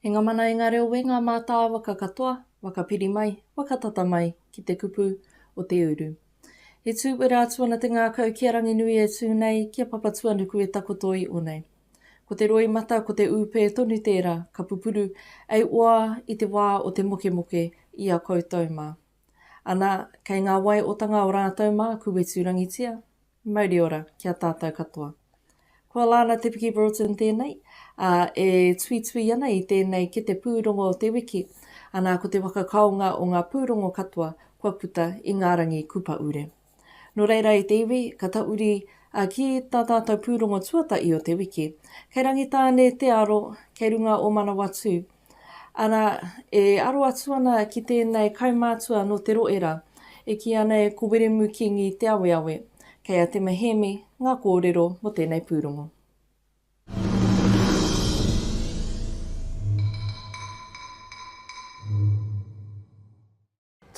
E nga mana e nga reo we nga mataa waka katoa, waka piri mai, waka tata mai ki te kupu o te uru. E tu wera atu ana te ngakau ki a Ranginui e tu nei ki a Papatuanuku e takoto i onei. Ko te roi mata ko te upe tonu tera ka pupuru ei oa i te waa o te mokemoke i a koutou ma. Ana, kei ngā wai otanga o rātou mā ku wetu rangitia, mauri ora ki a tātou katoa. Kua Lana Te Piki Broughton tēnei, ā, e tuitui ana i tēnei kete pūrongo o te wiki, ana ko te whakakaonga o ngā pūrongo katoa kua puta i ngā rangi kupaure. Nō reira i te iwi, ka tauri a ki tā tātou pūrongo tuatahi o te wiki. Kei Rangitāne te aro, kei runga o Manawatū. Arā, e aro atu ana ki tēnei kaumātua nō Te Roera, e kī ana e Ko Wiremu Kīngi Te Aweawe. Kei a Tema Hēmi ngā kōrero mō tēnei pūrongo.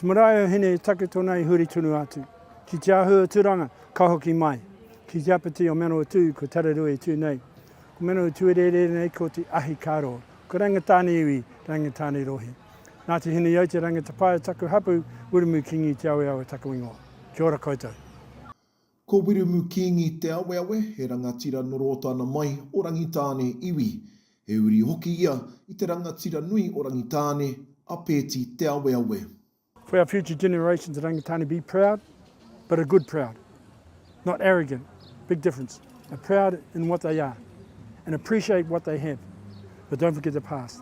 Te marae o Hine i take tona i huri tonu atu ki Te Ahu o Turanga ka hoki mai ki te apatī o Manawatū ko Tararua i tū nei. Ko Manawatū e rere ana nei ko Te Ahi Karo, ko Rangitāne iwi, Rangitāne Rohi. Nā te Hineaute Rangitapae taku hapu, Wiremu Kingi Te Aweawe taku ingoa. Kia ora koutou. Ko Wirumu Kingi Te Aweawe, he rangatira noro o tana mai o Rangitāne iwi. He uri hoki ia i te rangatira nui o Rangitāne, a Pēti Te Aweawe. For our future generations at Rangitāne be proud, but a good proud, not arrogant, big difference, a proud in what they are and appreciate what they have, but don't forget the past.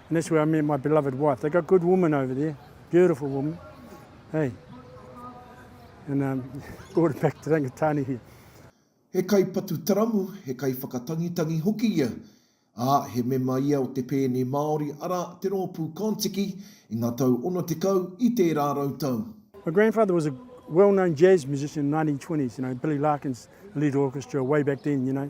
And that's where I met my beloved wife. They got good women over there, beautiful women. Hey. And um, brought it back to Rangitāne here. He kaipatu taramu, he kaiwhakatangitangi hoki ia, ā, he mema ia o te pēne Māori, arā, te rōpū Kon-Tiki, i ngā tau 60 i tērā rautau. My grandfather was a well-known jazz musician in the 1920s, you know, Billy Larkins lead orchestra way back then, you know.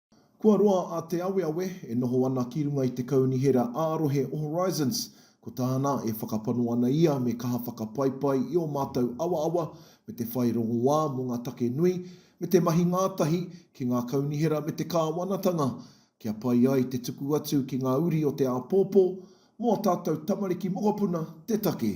Kua roa a Te Aweawe e noho ana ki runga i te Kaunihera ā-Rohe o Horizons. Ko tāna, e whakapano ana ia me kaha whakapaipai i ō mātou awaawa me te whai rongoā mō ngā take nui, me te mahi ngātahi ki ngā kaunihera me te kāwanatanga, kia pai ai te tuku atu ki ngā uri o te āpōpō, mō ā tātou tamariki mokopuna te take.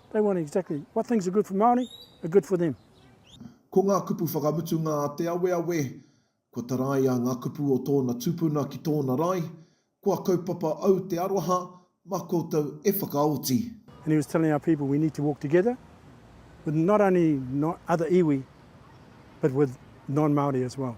They want exactly what things are good for Māori are good for them. Ko ngā kupu whakamutunga a Te Aweawe, kua taraia ngā kupu o tōna tupuna ki tōna rae, kua kaupapa au te aroha, mā koutou e whakaoti. And he was telling our people we need to walk together with not only other iwi but with non-Māori as well.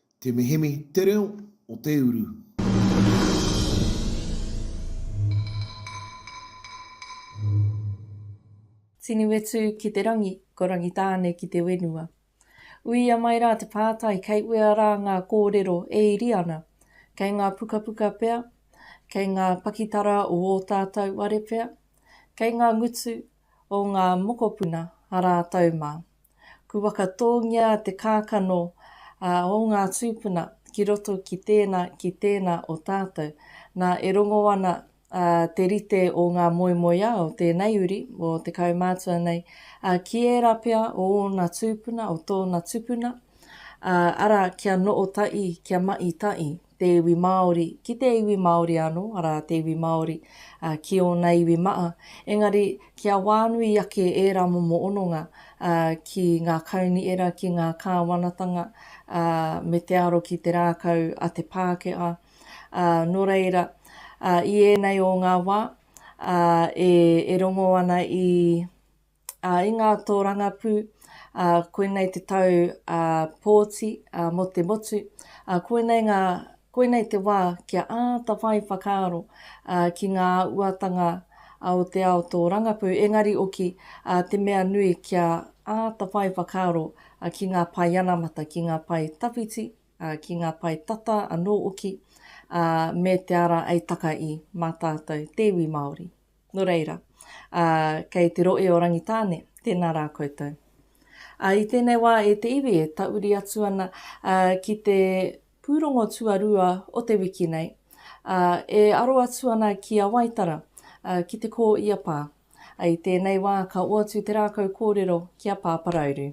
Te Mihemi te reo o te uru. Tinuetu ki te rangi, ko Rangitāne ki te wenua. Uia mai rā te pātai kei uea rā ngā kōrero e iri ana? Kei ngā pukapuka pea? Kei ngā pakitara o ō tātou ware pea? Kei ngā ngutu o ngā mokopuna a rātou mā? Ku whakatōngia te kākano o ngā tūpuna ki roto ki tēnā, ki tēnā o tātou. Nā, e rongo ana te rite o ngā moemoeā o tēnei uri, o te kaumātua nei, ki ērā pea o ōna tūpuna, o tōna tupuna, arā, kia noo taʻi, kia maʻi taʻi. te iwi Māori ki te iwi Māori anō, arā, te iwi Māori ki ōna iwi maʻa, engari kia wānui ake ērā momo hononga ki ngā kaunihera, ki ngā kāwanatanga, me te aro ki te rākau a te Pākehā. Nō reira, i ēnei o ngā wā, e rongo ana i. ā, i ngā tōrangapū, ā, koinei te tau, ā, pōti, ā, mō te motu, ā, koinei ngā, koinei te wā kia āta whai whakaaro, ā, ki ngā uatanga, ā, o te ao tōrangapū, engari oki, ā, te mea nui kia āta whai whakaaro, ā, ki ngā pae anamata, ki ngā pae tawhiti, ā, ki ngā pae tata anō oki, ā, me te ara ei taka i, mā tātou te iwi Māori. Nō reira, ā, kei te rohe o Rangitāne, tēnā rā koutou. Ā, i tēnei wā e te iwi e tauri atu ana, ā, ki te pūrongo tuarua o te wiki nei, ā, e aro atu ana ki a Waitara, ā, ki te kō i a Pā. Ā, i tēnei wā ka oatu te rākau kōrero ki a Pāparauru.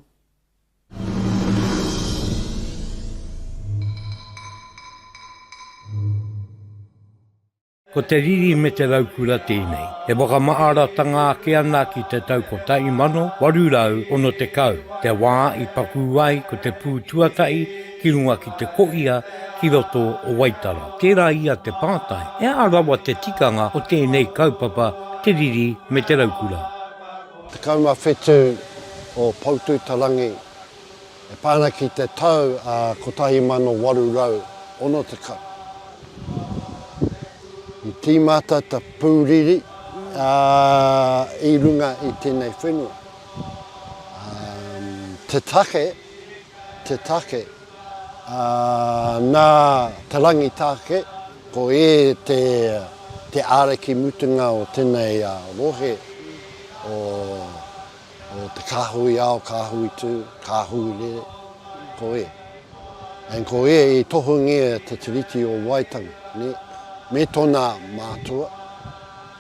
Ko te riri me te raukura tēnei e whakamaaratanga ake ana ki te tau 1860, te wā i pakū ai ko te pū tuatahi ki runga ki te koia ki roto o Waitara. Tērā ia te pātai, he aha rawa te tikanga o tēnei kaupapa te riri me te raukura? 17 o Poutū-te-rangi. E pā ana ki te tau 1860, i tīmata te pūriri i runga i tēnei whenua. Te take, te take, nā Te Rangitāke, ko ē te āraki mutunga o tēnei rohe o Ko te kāhui ao, kāhui tū, kāhui rere, ko ē. And ko ē i tohungia te Tiriti o Waitangi, nē, me tōna mātua,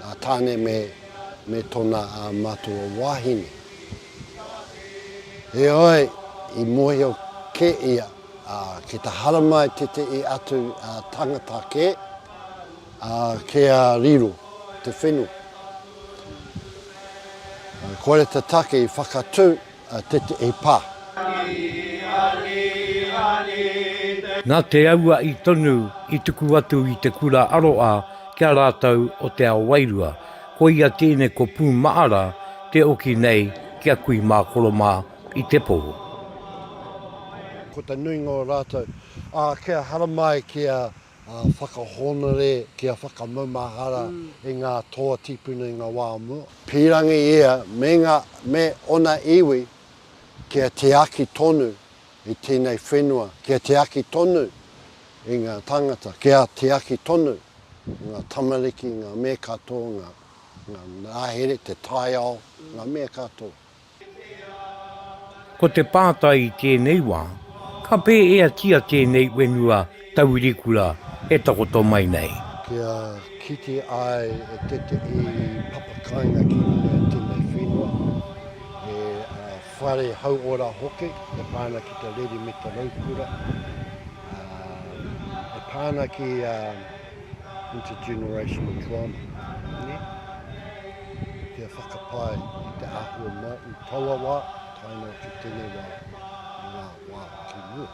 a Tāne me, me tōna a mātua wāhine. Heoi, i mōhio kē ia, ā, ki te haramai tētehi atu ā, tangata kē, ā, kia riro te whenua. Kore te take i whakatu a tetehi pa. Na te aua'i tonu i tuku atu i te kura aroa ki a ratou o te ao wairua, koia tene ko Pumaara te oki nei ki a Kui ma Koroma i te po. Ko te nuinga o ratou, a kia haramai ki a whakahōnore kia whakamaumahara e ngā toa tīpuna i ngā wā o mua. Pīrangi ia me ngā, me ōna iwi kia tiaki tonu i tēnei whenua, kia tiaki tonu i ngā tāngata, kia tiaki tonu i ngā tamariki, ngā mea katoa, ngā, ngā rāhere, te taiao, ngā mea katoa. Ko te pātai i tēnei wā, ka pēheatia tēnei whenua taurikura e takoto mai nei? Kia kite ai e tētehi papakāinga ki runga i tēnei whenua, he whare hauora hoki e pā ana ki te reri me te raukura, e pā ana ki intergenerational trauma, nē, kia whakapae i te āhua mai i taua wā tae noa ki tēnei wā, i ngā wā ki mua.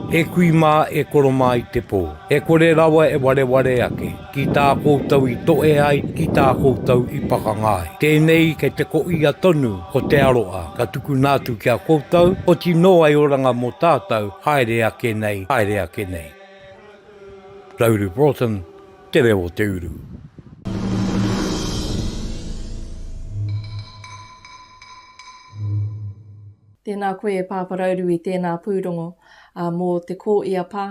E kui mā, e koro mā i te pō. E kore rawa e wareware ake, ki tā koutou i toe ai, ki tā koutou i pakanga ai. Tēnei kei te koia tonu o te aroa, ka tukuna atu ki a koutou, oti nō ai oranga mō tātou, haere ake nei, haere ake nei. Rauru Broughton, Te Reo o te Uru. Tēnā koe e Pāpa Rauru i tēnā pūrongo mō te kō i a Pā,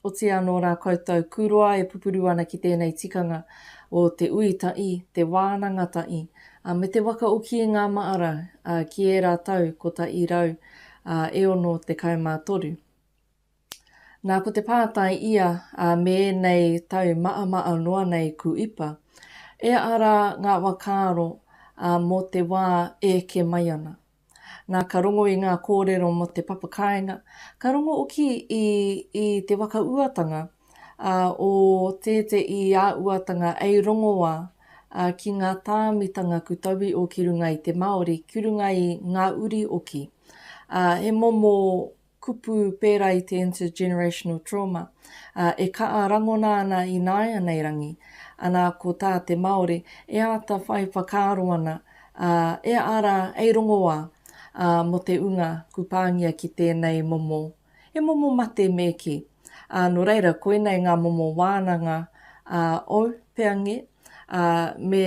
otirā anō rā koutou kūroa e pupuru ana ki tēnei tikanga o te ui taʻi, te wānanga taʻi, me te waka oki i ngā maʻara ki ērā tau kotaʻi rau e ono tekau mā toru. Nā, ko te pātai ia, ā, me ēnei tau maʻamaʻa noa nei ku ipa, e aha rā ngā whakaaro, ā, mō te wā e eke mai ana? Nā, ka rongo i ngā kōrero mō te papa kāinga, ka rongo hoki i, i te waka uatanga, ā, o tēte i a uatanga ei rongoā, ā, ki ngā tāmitanga ku tauwi o ki runga i te Māori, ki runga i ngā uri oki, ā, he momo kupu pērā i te intergenerational trauma, ā, e kaha rangona ana ināianei rangi, anā, ko tā te Māori, e āta whai whakaaro ana, ā, e ara, e rongoā, ā, mō te ūnga ku pāngia ki tēnei momo, he momo mate me kī. Ā, nō reira, koinei ngā momo wānanga, ā, ou, pea ngē, ā, me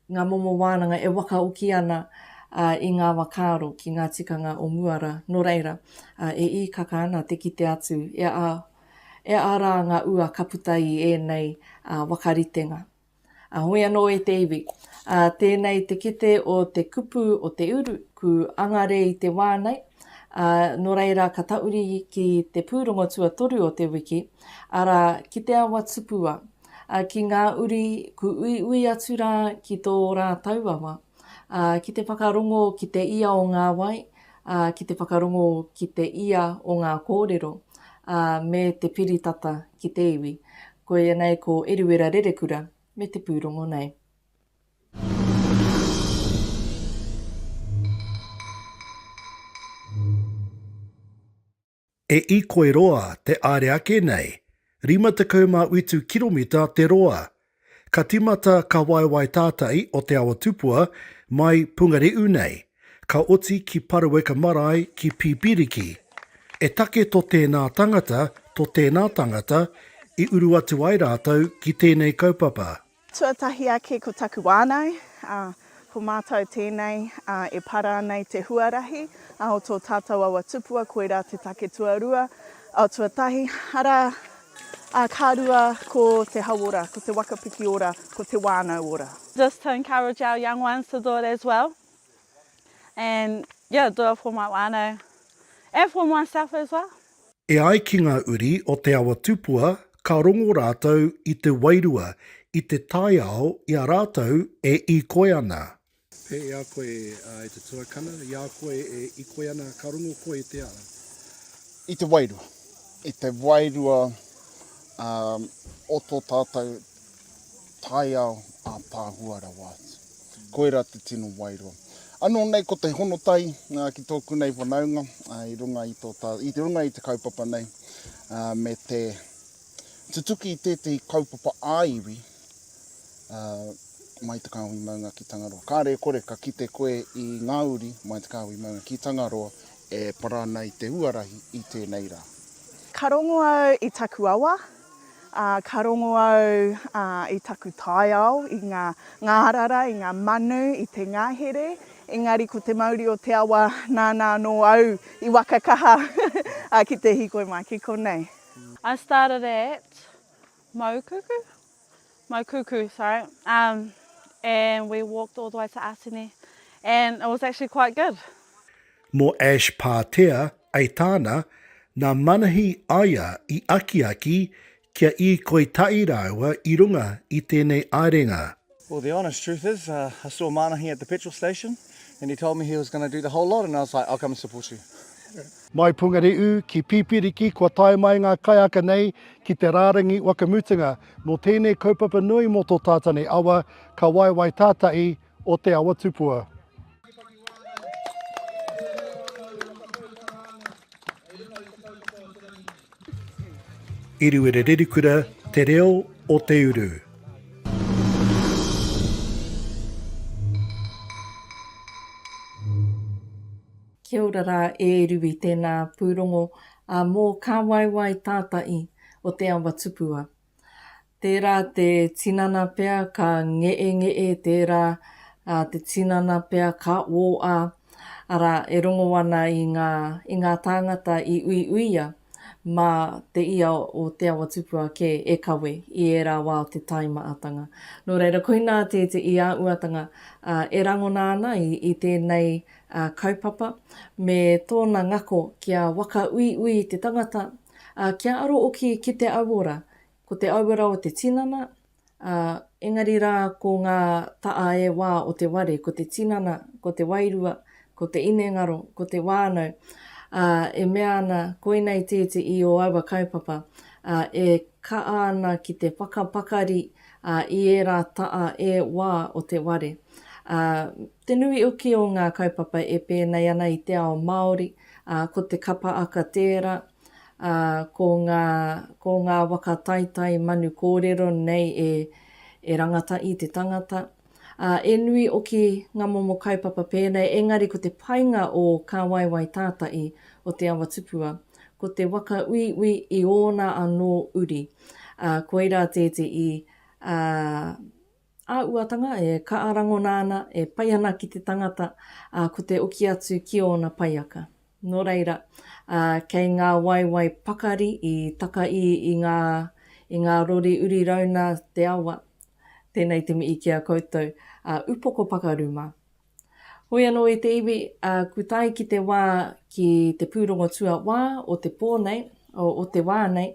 ngā momo wānanga e wakaoki ana i ngā wakaaro ki ngā tikanga o mua rā, nō reira, e īkaka ana te kite atu e a rā ngā ua ka puta i ēnei wakaritenga. Hoi anō e te iwi, tēnei te kite o te kupu o te uru, ku angare i te wā nei, nō reira ka tauri ki te pūrongo tuatoru o te wiki, arā, ki te awa tupua, Ā, ki ngā uri, ku uiui atu rā ki tō rātou awa, ā, ki te whakarongo ki te ia o ngā wai, ā, ki te whakarongo ki te ia o ngā kōrero, ā, me te piri tata ki te iwi. Koia nei ko Eruera Rerekura me te pūrongo nei. E i koe roa te aere ake nei, 58 kiromita te roa. Ka timata ka waewae tātai o Te Awa Tupua mai Pungare'u nei, ka oti ki Paruweka Marae ki Pipiriki. E take to tēnā tangata, to tēnā tangata, i uru atu ai rātou ki tēnei kaupapa. Tuatahi ake ko taku wānau, ā, ko mātou tēnei, ā, e para ana i te huarahi, ā, o tō tātou awa tupua, koirā te take tuarua, ā, tuatahi, arā, ā, ka rua ko te hauora, ko te waka piki ora, ko te wānau ora. This to encourage our young ones to do it as well and, yeah, do it for my wānau and for myself as well. E ai ki ngā uri o Te Awa Tupua ka rongo rātou i te wairua i te taiao i a rātou e īkoi ana. Pea i a koe, e te tuakana, i a koe e īkoi ana, ka rongo koe i te ao. I te wairua, i te wairua o tō tātou. Taiao a Pahua rawa atu. Koira te tino wairua. Ano nei ko te honotai ki toku nei whanaunga i runga i to ta, i te runga i te kaupapa nei me te tutuki i tetehi kaupapa a iwi mai te kahui maunga ki Tangaroa. Kare e kore ka kite koe i nga uri mai te kahui maunga ki Tangaroa e para ana i te huarahi i tenei ra. Ka rongo au i taku awa, Ā, ka rongo au i taku taiao, i ngā ngārara, i ngā manu, i te ngahere, engari ko te mauri o te awa nāna anō au i waka kaha ki te hīkoi mai ki konei. I started at Maukuku, Maukuku, sorry, um, and we walked all the way to Atene, and it was actually quite good. Mō Ash Pātea, Aitāna, nā Manahi Aia i akiaki kia īkoi tahi rāua i runga i tēnei aerenga. Well the honest truth is I saw Manahi at the petrol station and he told me he was going to do the whole lot and I was like I'll come and support you. Mai Pungare'u ki Pipiriki kua tae mai ngā kaiaka nei ki te rārangi wakamutunga mō tēnei kaupapa nui mō tō Tātane Awa ka waewae tātai o Te Awa Tupua. Iriwere Rerikura, Te Reo o Te Uru. Kia ora rā e Riwi tēnā pūrongo mō kā waewae tātai o Te Awa Tupua. Tērā te tinana pea ka ngeʻengeʻe, tērā te tinana pea ka ōʻā, arā, e rongo ana i ngā, i ngā tāngata i uiuia mā te ia o Te Awa Tupua kē e kawe i ērā wā o te tae maʻatanga. Nō reira, koinā te te i a uatanga e rangona ana i tēnei kaupapa me tōna ngako kia waka uiui te tangata Ā, kia aro oki ki te auora, ko te auora o te tinana, ā, engari rā ko ngā taʻa e wā o te ware, ko te tinana, ko te wairua, ko te inengaro, ko te wānau, ā, e mea ana, Koinei tēti i ō aua kaupapa, ā, e kaʻa ana ki te whakapakari, ā, i ērā taʻa e wā o te ware. Ā, te nui oki o ngā kaupapa e pēnei ana i te ao Māori, Ā, ko te kapa aka tērā, ā, ko ngā, ko ngā waka taitai manu kōrero nei e, e rangata i te tangata. Ā, e nui oki ngā momo kaupapa pēnei, engari ko te painga o Kā Waewae Tātai o Te Awa Tupua, ko te waka uiui i ōna anō uri, ā, koirā tēteī, ā, Āhuatanga e kaha rangona ana, e pai ana ki te tangata, ā, ko te oki atu ki ōna paiaka. Nō reira, ā, kei ngā waewae pakari i takaī i ngā, i ngā rori uri rauna te awa, tēnei te mihi ki a koutou, ā, upoko pakaru mā. Hoi anō i te iwi, ā, ku tae ki te wā, ki te pūrongo tuawā o te pō nei, o, o te wā nei,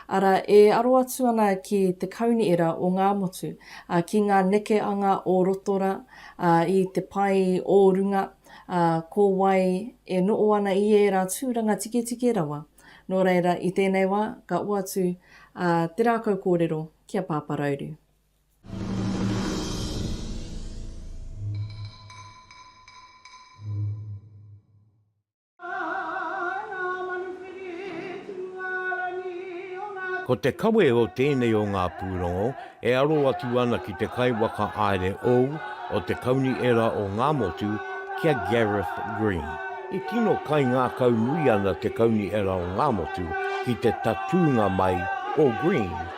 arā, e aro atu ana ki te kauniera o ngā motu, ā, ki ngā neke anga o roto rā, ā, i te pae o runga, ā, ko wai e noo ana i ērā tūranga tiketike rawa. Nō reira, i tēnei wā, ka hoatu, ā, te rākau kōrero ki a Pāparauru. Ko te kawe o tēnei o ngā pūrongo e aro atu ana ki te kaiwhakaāere ou o te Kaunihera o Ngā Motu ki a Gareth Green. E tino kaingākau nui ana te Kaunihera o Ngā Motu ki te tatūnga mai o Green.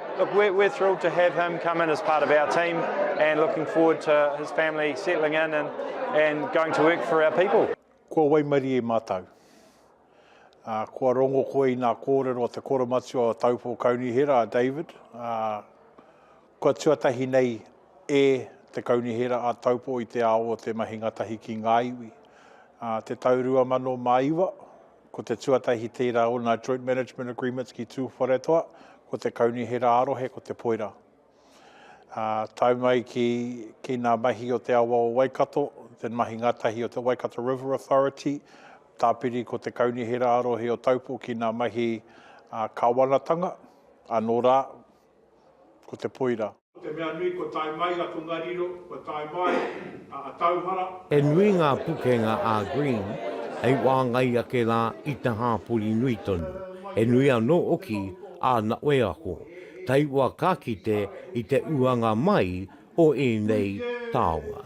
Look, we're, we're thrilled to have him come in as part of our team and looking forward to his family settling in and, and going to work for our people. Kua waimarie mātou. Uh, kua rongo koe i nā kōrero o te koromatua o Taupō Kaunihera, David. Uh, kua tuatahi nei e te Kaunihera a Taupō i te ao o te mahi ngatahi ki ngā iwi. Uh, te tau rua mano mā iwa, Ko te tuatahi tērā o nā Joint Management Agreements ki Tūwharetoa, ko te Kaunihera ā-rohe, ko Te Poira. Ā, tae mai ki, ki nā mahi o te awa o Waikato, te mahi ngātahi o te Waikato River Authority, tāpiri ko te Kaunihera ā-rohe o Taupo ki nā mahi ā, kāwanatanga, anō rā, ko te poira. Ko te mea nui kua tae mai a Tongariro, kua tae mai a Atauhara. He nui ngā pukenga a Green hei wāngai ake rā i te hāpori nui tonu. He nui anō hoki āna wheako, taiwa ka kite i te uanga mai o ēnei taonga.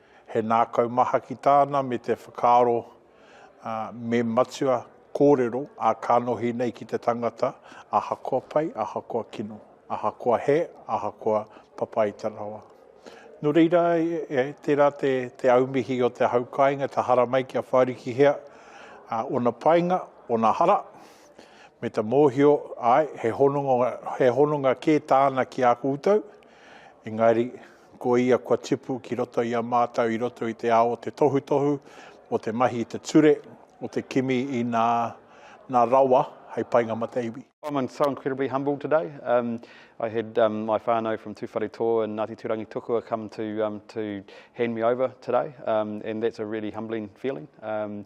He nākau maha ki tāna me te whakaaro me matua kōrero ā kanohi nei ki te tangata ahakoa pai, ahakoa kino, ahakoa he, ahakoa papaita rawa. Nō reira, tērā te aumihi o te hau kāinga, te haramai kia whārikihia ōna painga, ōna hara, me te mōhio, āe, he hononga kē tāna ki a koutou, engari ko ia kua tipu ki roto i a mātou i roto i te ao o te tohutohu, o te mahi i te ture, o te kimi i nā, nā rawa hei painga mate iwi. I'm so incredibly humbled today. Um, I had um, my whānau from Tūwharetoa and Ngāti Tūrangitokua come to, um, to hand me over today, um, and that's a really humbling feeling. Um,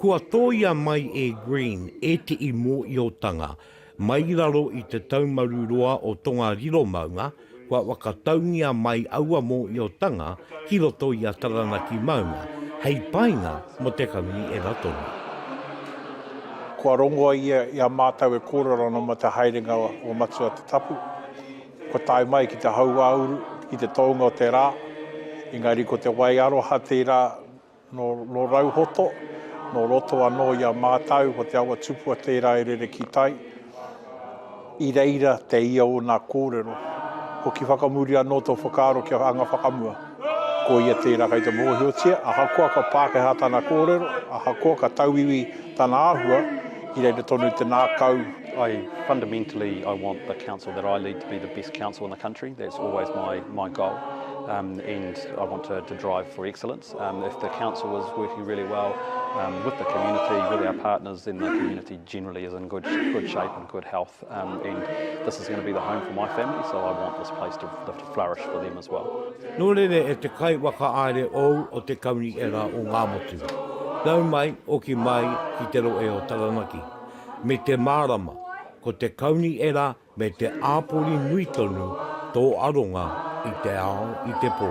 Kua tōia mai e Green ētehi mōiotanga mai i raro i te taumaru roa o Tongariro maunga, kua whakataungia mai aua mōiotanga ki roto i a Taranaki maunga, hei painga mō te kaunui era tonu. Kua rongoa ia i a mātou e kōrero ana mō te haerenga o Matua Te Tapu, kua tae mai ki te hauāuru, ki te tōnga o te rā, engari ko te wai aroha tērā, Nō Rauhoto, nō roto anō i a mātau, ko te awa tupua tērā e rere ki tai, i reira te ia o nā kōrero. Hoki whakamuri anō tō whakaaro ki a Anga Whakamua, ko ia tērā kei te mōhiotia, ahakoa ka Pākehā tana kōrero, ahakoa ka tauiwi tana āhua, i reira tonu te nākau. I fundamentally I want the council that I lead to be the best council in the country, that's always my goal and I want to drive for excellence. Um, if the council was working really well um, with the community, with our partners, then the community generally is in good good shape and good health. Um, and this is going to be the home for my family, so I want this place to, to flourish for them as well. Nō rere e te kai waka aere ou o te kauni e rā o ngā motu. Nau mai, oki mai ki te roe o Taranaki. Me te mārama, ko te kauni e rā Me te āpori nui tonu tō aronga i te ao i te pō.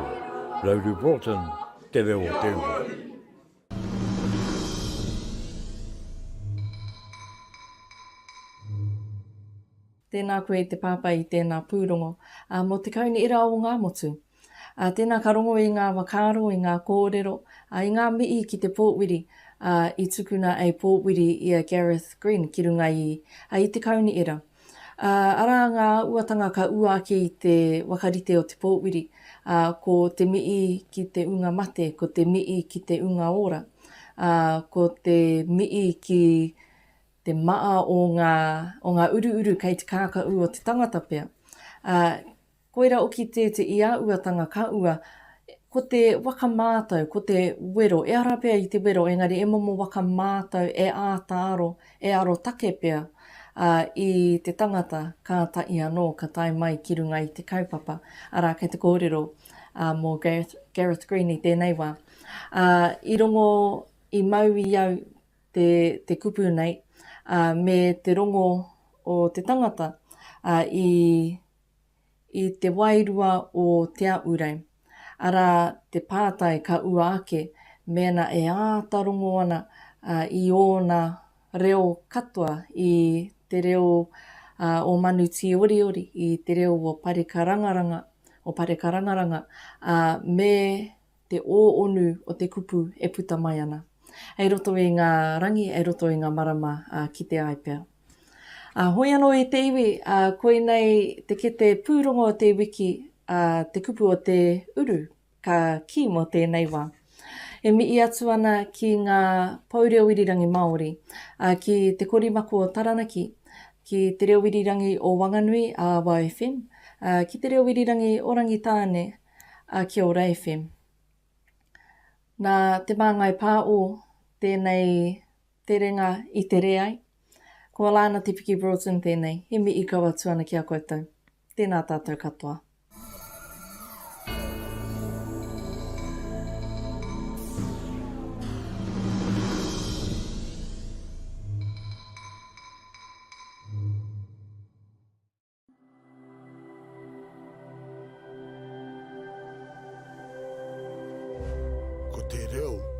Rowdy Broughton, Te Reo o te Ua. Tēnā koe i te pāpā i tēnā pūrongo. Mō te kaunihera o Ngāmotu. Ā, tēnā ka rongo i ngā whakaaro, i ngā kōrero, ā, i ngā mihi ki te pōwiri, ā, i tukuna a pōwiri i a Gareth Green ki runga i, ā, i te kaunihera. Ā, arā ngā āuatanga ka ua ake i te whakarite o te pōwiri, ā, ko te mihi ki te ūnga mate, ko te mihi ki te ūnga ora, ā, ko te mihi ki te maa o ngā, o ngā uruuru kei te kākaū o te tangata pea. Ā, Koira hoki te te i a uatanga ka ua, ko te waka mātau, ko te wero, e ara pea i te wero engari e momo waka mātau e āta aro, e arotake pea, ā, i te tangata kātahi anō ka tae mai ki runga i te kaupapa, arā kei te kōrero ā mō Gareth, Gareth Green i tēnei wā, ā, i rongo, i mau i au te, te kupu nei, ā, me te rongo o te tangata, ā, i. i te wairua o Te Aʻurei, arā, te pātai ka ua ake mēnā e āta rongo ana i ōna reo katoa, i te reo o Manu Tīoriori, i te reo o Parekarangaranga, o Parekarangaranga, ā, me te ōonu o te kupu e puta mai ana, ei roto i ngā rangi, ei roto i ngā marama, ā, kite ai pea. Ā, hoi anō i te iwi, ā, koinei te kete pūrongo o te iwiki, ā, te kupu o te uru ka kī mō tēnei wā. E mihi atu ana ki ngā pou reo irirangi Māori, ā, ki Te Korimako o Taranaki, ki Te Reo Irirangi o Wanganui, ā, Waw FM, ā, ki Te Reo Irirangi o Rangitāne, a Kia Ora FM. Nā Te Māngai Pā O tēnei terenga i tere ai. Ko Alana Te Piki Broughton tēnei. He mihi kau atu ana ki a koutou. Tēnā tātou katoa. Ko te reo